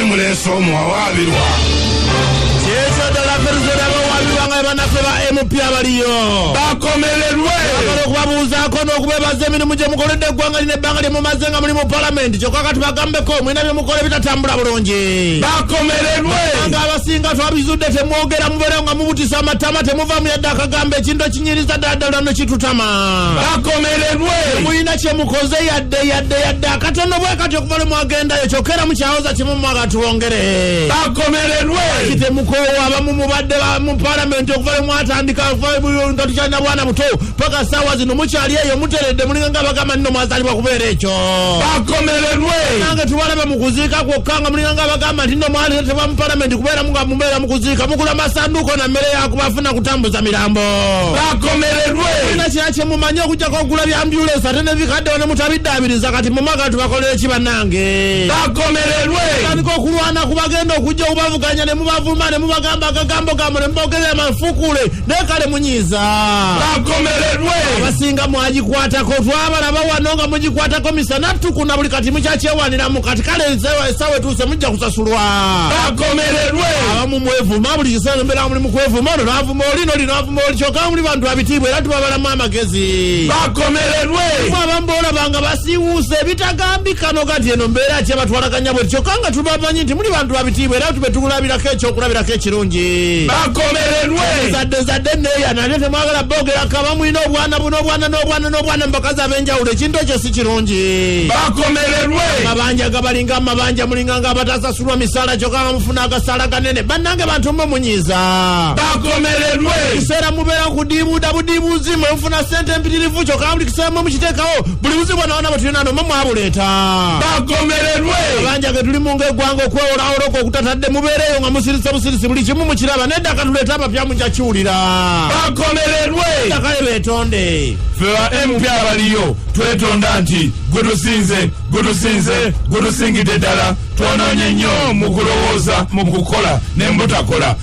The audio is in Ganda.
emuleese omuwawaabirwa kyekyo ddala feruze nabawaabirwa nga bebanafe ba mp abaliyo bakomererwe agala okubabuuzaako n'okubebaza emirimu gye mukoledde eggwanga lino ebbanga lye mumaze nga muli mu palamenti kyokka kati bagambeko mulina bye mukola ebitatambula bulungi bakomererwe nga abasinga twabizudde temwogera mubeera nga mubutisa amatama temuvamu yadde akagamba ekintu ekinyiriza ddala ddala no kitutama bakomererwe mulina kye mukoze yadde yadde yadde akatono bwe katyo bali mwagendayo kyokka era mukyawoza kimu mwaga twongere bakomererwe kitemukoowa abamu mubadde mu palamenti okuva lwe mwatandika nga tukyalina bwana buto paka saawa zino mukyali eyo muteredde mulinga nga bagamba nino mwazalibwa kubeera ekyo bakomererwe nange tubalaba mu kuziika kwokka nga mulinga nga bagamba nti no mwaleetebwa mu palamenti kubeera nga mubeera mu kuziika mugula masanduuko na mmere yakubafuna kutambuza mirambo bakomererwe ina kira kyemumanyi okujjako okugula byambyuleesa ate nebikaddewo ne mutabiddaabiriza kati mumaga abantu bakoleyo ki banange bakomererwe tandika okulwana ku bagenda okujja okubavuganya ne mubavuma ne mubagamba agagambo gambo ne mubogerera amafukule naye kale munyiiza bakomererwe abasinga mwagikwatako twabalaba wano nga mugikwatako misana tukuna buli kati mukyakyewaniramu kati kale esawa etuuse mujja kusasulwa bakomererwe abamu mwevuma buli kiseera nembeera muli mukwevuma ono navuma oli noli navuma oli kyoka muli bantu abitiibwa era tubabalamu amagezi bakomererwe abamu bolaba nga basiiwuuse ebitagambika no kati eno mbeera ki abatwalaganya bwe kyokka nga tubamanyi nti muli bantu babitiibwa era tube tukulabirako ekyokulabirako ekirungi bakomererwe zadde zadde neya nate temwagala boogerako abamulina obwana bu n'obwana n'obwana n'obwana mubakazi ab'enjawulo ekintu ekyo si kirungi bakomererwe amabanja gabalinga amabanja mulinga nga abatasasulwa misaala kyokka nga mufuna agasaala ganene bannange bantu mwe munyiiza bakomererwe kiseera mubeera kudiibuuda budiibuuzi mwe funa ssente empitirivu kyoka buli kiseemu mukiteekawo buli buzibu bwonaona bwe tulina noma mwabuleeta bagomererwe abanja ge tulimu ng'eggwanga okwewola oloko okutatadde mubeereeyo nga musirise busirisi buli kimu mukiraba nedda katuleete abapya muja kiwulira bagomererwe dakayo beetonde ffe ba mp abaliyo twetonda nti gwe tusinze gwe tusinze gwe tusingidde ddala twonoonye nnyo mu kulowooza mu kukola ne mbutakola